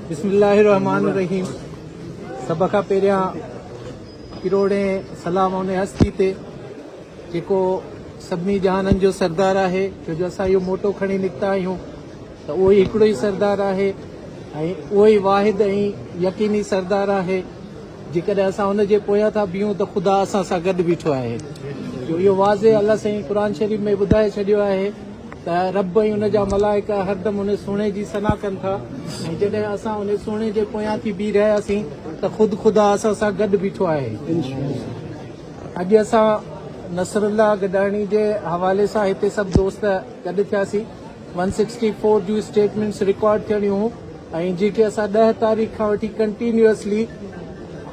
بسم الله الرحمن الرحيم سڀ کان پهريان ڪروڙين سلام ان هستي تي جيڪو سڀني جهانن جو سردار آهي ڇو جو اسان اهو موٽو کڻي نڪتا آهيون ته اهو ئي هڪڙو ئي سردار آهي ۽ اهو ئي واحد ۽ يقيني سردار آهي جيڪڏهن اسان ان جي پويان ٿا بيهون ته خدا اسان سان گڏ بيٺو آهي جو اهو واضح الله سائين قرآن شريف ۾ ٻڌائي ڇڏيو آهي ته رب ۽ ان جا ملائڪه هردم ان سهڻي جي ثنا ڪن ٿا ۽ جڏهن اسان ان سهڻي جي پويان ٿي بيهي رهياسين ته خود خدا اسان سان گڏ بيٺو آهي. اڄ اسان نصر الله گڏاڻي جي حوالي سان هتي سڀ دوست گڏ ٿياسين. ون سڪسٽي فور جون اسٽيٽمينٽس رڪارڊ ٿيڻيون هيون ۽ جيڪي اسان ڏهه تاريخ کان وٺي ڪنٽينيوسلي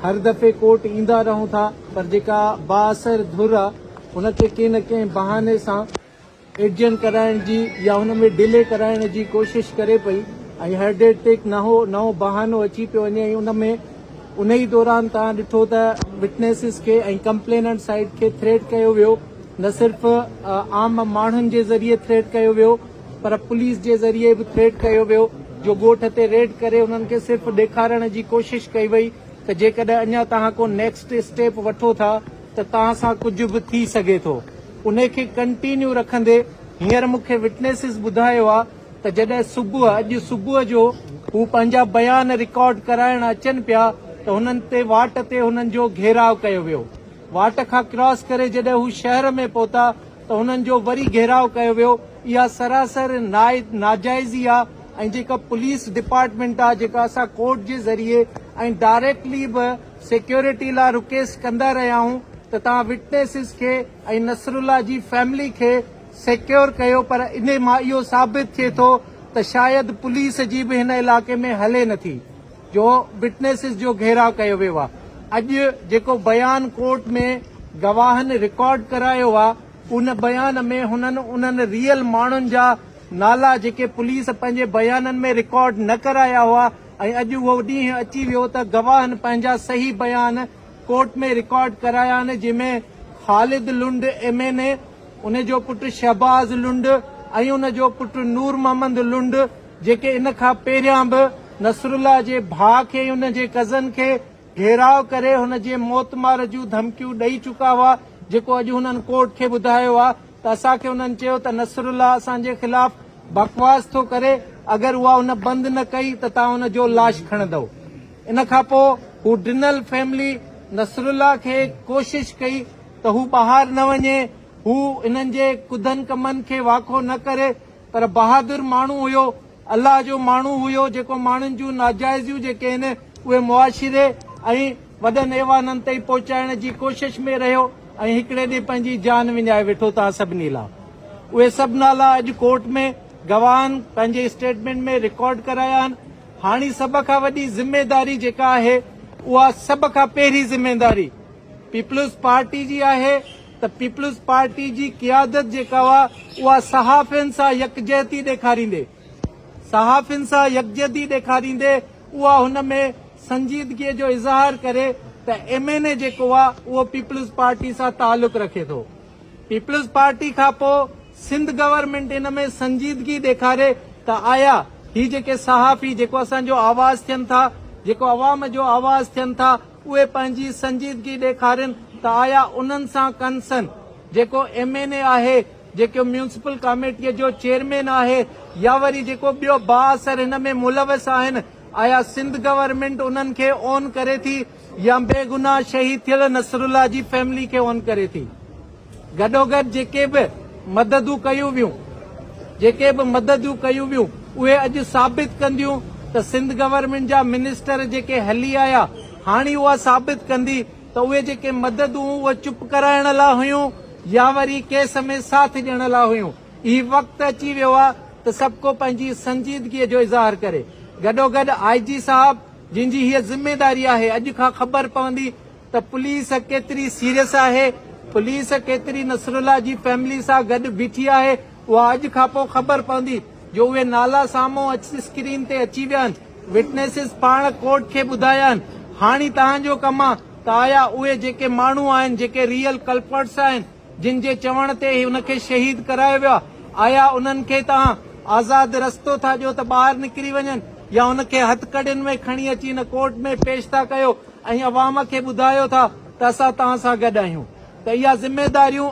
هر دفعي ڪورٽ ايندا رهون ٿا پر جيڪا بااثر ڌر آهي ان کي ڪنهن نه ڪنهن بهاني سان ايڊجن ڪرائڻ جي يا ان ۾ ڊلي ڪرائڻ جي ڪوشش ڪري پئي ۽ هر ڊيٽ تي هڪ نهو نئون بهانو اچي پيو وڃي ۽ ان ۾ ان ئي دوران توهان ڏٺو ته وٽنيسز کي ۽ ڪمپليننٽ سائيڊ کي ٿريٽ ڪيو ويو نه صرف عام ماڻهن جي ذريعي ٿريٽ ڪيو ويو پر پوليس جي ذريعي به ٿريٽ ڪيو ويو جو ڳوٺ تي ريڊ ڪري انهن کي صرف ڏيکارڻ جي ڪوشش ڪئي وئي ته جيڪڏهن اڃا توهان ڪو نيڪسٽ اسٽيپ وٺو ٿا ته توهان سان ڪجهه به ٿي سگهي ٿو انهي کي ڪنٽينيو رکندي هينئر مون کي وٽنيسز ٻڌايو آ ته جڏهن صبح اڄ صبح جو هو پنهنجا بيان رڪارڊ ڪرائڻ اچن پيا ته هنن تي واٽ تي هنن جو گهيراء ڪيو ويو واٽ کان ڪراس ڪري جڏهن هو شهر ۾ پهتا ته هنن جو وري گهيراء ڪيو ويو اها سراسر ناجائزي آ ۽ جيڪا پوليس ڊپارٽمينٽ آ جيڪا اسان ڪورٽ جي ذريعي ۽ ڊائريڪٽلي به سيڪيورٽي لا رڪيسٽ ڪندا رهيائون ته توهان وٽنيسز کي ۽ نصرالله جي فيملي کي سيڪيور ڪيو پر انهي مان اهو ثابت ٿئي ٿو ته شايد پوليس جي به هن علائقي ۾ هلي نٿي جو وٽنيسز جو گهيراء ڪيو ويو آ اڄ جيڪو بيان ڪورٽ ۾ گواهن رڪارڊ ڪرايو آ ان بيان ۾ هنن انهن ريئل ماڻهن جا نالا جيڪي پوليس پنهنجي بيانن ۾ رڪارڊ نه ڪرايا هئا ۽ اڄ اهو ڏينهن اچي ويو ته گواهن پنهنجا صحيح بيان ڪورٽ ۾ رڪارڊ ڪرايا آهن جنهن ۾ Khalid Lund M N A, ان جو پٽ شهباز لنڊ ۽ ان جو پٽ نور محمد لنڊ جيڪي ان کان پهريان به نصرالله جي ڀاء کي ۽ ان جي ڪزن کي گهيراء ڪري هن جي موت مار جون ڌمڪيون ڏئي چڪا هئا جيڪو اڄ هنن ڪورٽ کي ٻڌايو آهي. ته اسان کي انهن چيو ته نصرالله اسان جي خلاف بڪواس ٿو ڪري اگر اها ان بند نه ڪئي ته توهان ان جو لاش کڻندؤ ان کان پوء هو ڊنل فيملي نصرالله کي ڪوشش ڪئي ته هو ٻاهر نه وڃي هو انهن جي ڪڌن ڪمن کي واکو نه ڪري پر بهادر ماڻهو هيو الله جو ماڻهو هيو جيڪو ماڻهن جون ناجائزيون جيڪي هن اهي معاشري ۽ وڏن ايوانن تائين پهچائڻ جي ڪوشش ۾ رهيو ۽ هڪڙي ڏينهن پنهنجي جان وڃائي ويٺو توهان سڀني لا اهي سڀ نالا اڄ ڪورٽ ۾ گواهن پنهنجي اسٽيٽمينٽ ۾ رڪارڊ ڪرايا آهن هاڻي سڀ کان وڏي ذميداري جيڪا آهي اها سڀ کان پهرين ذميداري پيپلز پارٽي جي آهي ته پيپلز پارٽي جي قيادت جيڪا هئا اها صحافين سان يڪجهتي ڏيکاريندي صحافين سان يڪجهتي ڏيکاريندي اها هن ۾ سنجيدگي جو اظهار ڪري ته ايم اين اي جيڪو آ اهو پيپلز پارٽي سان تعلق رکي ٿو پيپلز پارٽي کان پو سنڌ گورنمينٽ ان ۾ سنجيدگي ڏيکاري ته آيا هي جيڪي صحافي جيڪو اسان جو آواز ٿين ٿا جيڪو عوام جو آواز ٿين ٿا اهي پنهنجي سنجيدگي ڏيکارين ته آيا انهن سان ڪنسن جيڪو ايم اين اي آهي، جيڪو ميونسپل ڪاميٽيء جو چيئرمين آهي يا وري جيڪو ٻيو بااثر هن ۾ ملوث آهن، آيا سنڌ گورنمينٽ انهن کي اون ڪري ٿي يا بيگناهه شهيد ٿيل نصرالله جي فيملي کي اون ڪري ٿي. گڏوگڏ جيڪي به مددون ڪيون ويون جيڪي به مددون ڪيون ويون اهي اڄ ثابت ڪنديون ته سنڌ گورنمينٽ جا منسٽر جيڪي هلي آيا هاڻي اها ثابت ڪندي ته اهي جيڪي مددون هيون اهي چپ ڪرائڻ لا هيون يا وري ڪيس ۾ ساٿ ڏيڻ لا هيون هي وقت اچي ويو آ ته سڀ ڪو پنهنجي سنجيدگي جو اظهار ڪري گڏوگڏ آء جي صاحب جنهن جي هيء ذميداري آهي اڄ کان خبر پوندي ته پوليس ڪيتري سيريس آهي، پوليس ڪيتري نصرالله جي فيملي سان گڏ بيٺي آهي، اها اڄ کانپوء خبر پوندي جو اهي نالا سامهون اچي اسڪرين تي اچي ويا آهن، وٽنيسز پاڻ ڪورٽ کي ٻڌايا آهن، هاڻي توهان جو ڪم آهي ته آيا اهي جيڪي ماڻهو آهن، جيڪي ريئل ڪلپرٽس آهن، جن جي چوڻ تي هن کي شهيد ڪرايو ويو آهي، آيا انهن کي توهان آزاد رستو ٿا ڏيو ته ٻاهر نڪري وڃن يا ان کي هٿڪڙين ۾ کڻي اچي هن ڪورٽ ۾ پيش ٿا ڪيو؟ ۽ عوام کي ٻڌايو ٿا ته اسان توهان سان گڏ آهيون ته اها ذميواريون